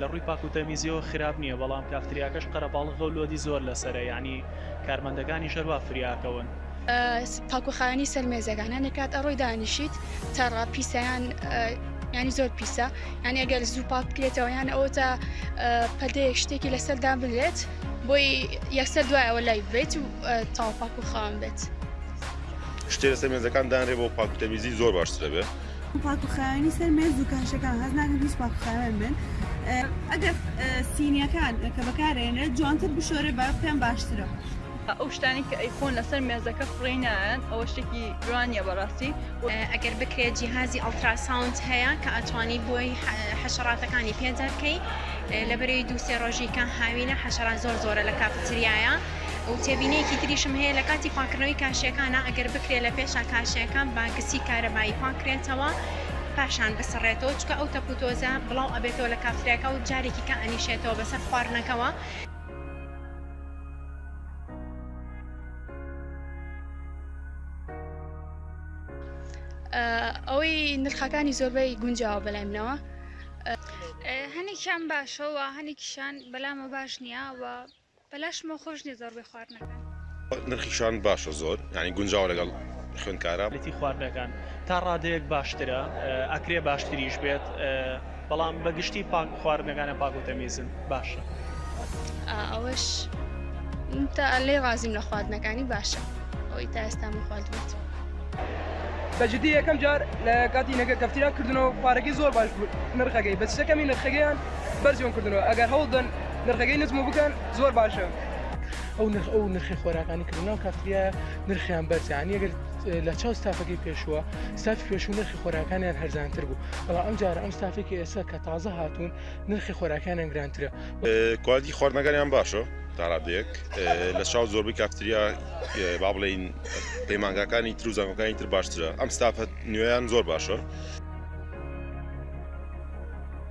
لە ڕووی پاک و تەمیزیەوە خراپ نیە بەڵام کافتریاکەش قەرەباڵغەو لۆدی زۆر لەسەرە یەعنی کارمەندەکانیش هەر وا فریاکەون. پاک و خاوێنی سەر مێزەکان هەندێک کات ئەڕۆی دانیشیت تەڕە پیسە یان یانی زۆر پیسە یانی ئەگەر زوو پاک بکرێتەوە یان ئەوە تا پەدەیەک شتێکی لەسەر دابلێت بۆی یەکسەر دوای ئەوە لای بێت و تاو پاک و خاوێن بێت. شتێ لەسەر مێزەکان دانرێ بۆ پاک و تەمیزی زۆر باشترە بێ. پاک و خاوێنی سەر مێز و کاشەکان حەز ناکەم هیچ پاک و خاوێن بن ئەگەر سینیەکان کە بەکارێنێت جوانتر بشۆرێ با پێم باشترە. ئەو شتانەی کە ئەیفۆن لەسەر مێزەکە خوڕی نایەن ئەوە شتێکی جوانیە بەڕاستی. ئەگەر بکرێت جیهازی ئەڵتراساوند هەیە کە ئەتوانی بۆی حەشەڕاتەکانی پێ دەرکەی لە بەری دوو سێ ڕۆژی کە هاوینە حەشەڕات زۆر زۆرە لە کافتریایە. و تێبینیەکی تریشم هەیە لە کاتی پاکردنەوەی کاشەکانە ئەگەر بکرێت لە پێشا کاشەکان با گسی کارەبایی پاکرێتەوە پاشان بسڕێتەوە چکە ئەو تەپوتۆزە بڵاو ئەبێتەوە لە کافترێکە و جارێکی کە ئەنیشێتەوە بەسەر خواردنەکەەوە ئەوەی نرخەکانی زۆربەی گونجاوە بەلایمنەوە هەنێکیان باشەوە هەنێکیشان بەلامە باش نییە و بەلاشمەوە خۆش نیە زۆر بێ خواردنەکان. نرخی شان باشە زۆر یانی گونجاوە لەگەڵ خوێندکارا. لەتی خواردنەکان تا ڕادەیەک باشترە ئەکرێ باشتریش بێت بەڵام بە گشتی پاک خواردنەکانە پاک و تەمیزن باشە. ئەوەش تا لێی ڕازیم لە خواردنەکانی باشە ئەوەی تا ئێستا من خواردومەتەوە. بە جدی یەکەم جار لە کاتی نەگەر کەفتیرا کردنەوە پارەکەی زۆر باش بوو نرخەکەی بەس شتەکەمی نرخەکەیان بەرزیان کردنەوە ئەگەر هەوڵ دەن نرخەکەی نزم بکەن زۆر باشە. ئەو نرخ ئەو نرخی خۆراکانی کردن ناو کافتریا نرخیان بەرزیان یەگەر لە چاو ستافەکەی پێشووە ستاف پێشوو نرخی خۆراکانیان هەرزانتر بوو بەڵام ئەم جارە ئەم ستافێکی ئێستا کە تازە هاتوون نرخی خۆراکانیان گرانترە کوالتی خواردنەکانیان باشە تاڕادێک لە چاو زۆربەی کافتریا با بڵین پەیمانگاکانی تر و زانگەکانی تر باشترە ئەم ستافەت نوێیان زۆر باشە.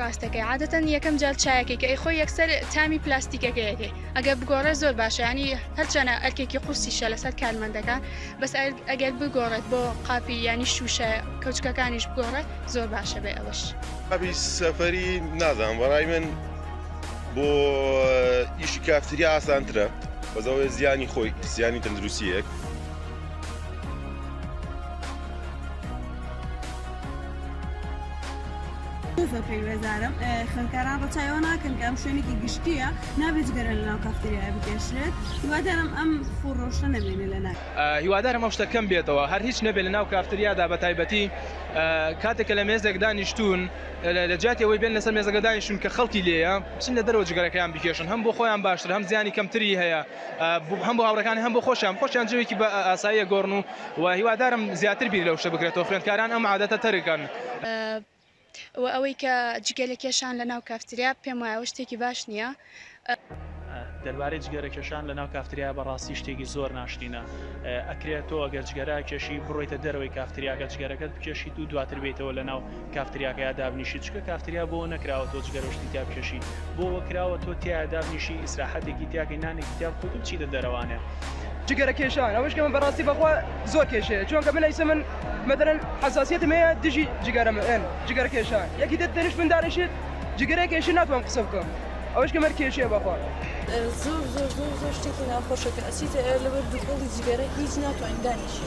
ڕاستەکەی عادەتەن یەکەم جار چایەکەی کە ئەیخۆی یەکسەر تامی پلاستیکەکەیەکەی ئەگەر بگۆڕێ زۆر باشیانی هەرچەنە ئەرکێکی قورسیشە لەسەر کارمەندەکان بەس ئەگەر بگۆڕێت بۆ قاپی ینی شوشە کەوچکەکانیش بگۆڕێ زۆر باشە بێ ئەوەش قاپی سەفەری نازان بەڕای من بۆ ئیشی کافتریا ئاسانترە بەزەوەی زیانی خۆی زیانی تەندروستیەک زۆر پەیوەزارم خوێندکاران ڕەچایەوە ناکەن کە ئەم شوێنێکی گشتیە نابێت گەرە لە ناو کافتریای بکێشرێت هیوادارم ئەم فڕۆشە نەبێنێ لە ناک هیوادارم ئەو شتە کەم بێتەوە هەر هیچ نەبێت لە ناو کافتریادا بە تایبەتی کاتێکە لە مێزێک دانیشتون لە جیاتی ئەوەی بێن لەسەر مێزەکە دانیشتون کە خەڵکی لێە چین لە دەرەوە جگەرەکەیان بکێشن هەم بۆ خۆیان باشتر هەم زیانی کەمتری هەیە هەم بۆ هاوڕەکان هەم بۆ خۆشیان خۆشیان جوێکی بە ئاساییە گۆڕن و وە هیوادارم زیاتر بیر لەو شتە بکرێتەوە خوێندکاران ئەم عادەتە تەرککەن. وە ئەوەی کە جگەرە کێشان لە ناو کافتریا پێم وایە ئەوە شتێکی باش نیە. دەربارەی جگەرە کێشان لە ناو کافتریا بەڕاستی شتێکی زۆر ناشرینە ئەکرێ تۆ ئەگەر جگەرە کێشی بڕۆیتە دەرەوەی کافتریاکە جگەرەکەت بکێشیت و دواتر بێیتەوە لە ناو کافتریاکەیا دابنیشی چکە کافتریا بۆ نەکراوە تۆ جگەرە شتی تیا بکێشی بۆوە کراوە تۆ تیا دابنیشی ئیسراحەتێکی تیاکەی نانێکی تیا بخۆی تو بچیتە دەرەوانێ جگەرە کێشان ئەوەش کەمە بەڕاستی بەخوا زۆر کێشەیە چۆنکە من ئەیسە من مەدەرن حساسیتم هەیە دژی جگەرە من جگەرە کێشان یەکی دە تەنیش من دانیشێت جگەرە کێشی ناتوان قسە بکەم ئەوەش کەمەر کێشەیە بەخوا زۆر زۆر زۆر زۆر شتێکی ناخۆشە کە ئەسیتە ئەر لەبەر دوکەڵی جگەرە هیچ ناتوانین دانیشی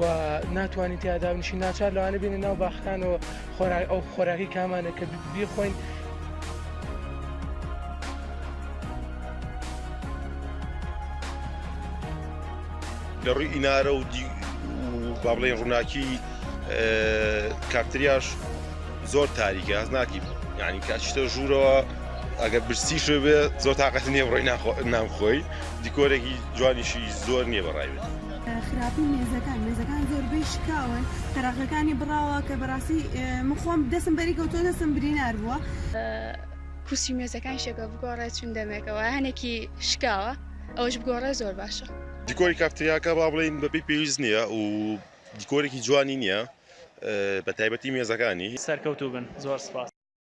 و ناتوانین تیادا بنیشی ناچار لەوانە بینە ناو باخەکانەوە خۆراک ئەو خۆراکی کامانە کە بیخۆین لە ڕووی ئینارە و با بڵێن ڕووناکی کافتریاش زۆر تاریکە هەز ناکیب یعنی کاچتە ژوورەوە ئەگەر برسی شوێ بێ زۆر تااقەت نییە بڕۆی ناخۆ نام خۆی دیکۆرێکی جوانیشی زۆر نییە بەڕایێت. خراپی مێزەکان مێزەکان زۆربەی شکاون تەراخەکانی بڕاوە کە بەڕاستی من خۆم دەسم بەری کەوتۆ دەسم برینار بووە کورسی مێزەکان شەکە بگۆڕێ چون دەمێکەوە هەنێکی شکاوە ئەوش بگۆڕێ زۆر باشە دیکۆری کافتریاکە با بڵین بەپی پێویست نییە و دیکۆرێکی جوانی نییە بە تایبەتی مێزەکانی سەرکەوتوو بن زۆر سپاس.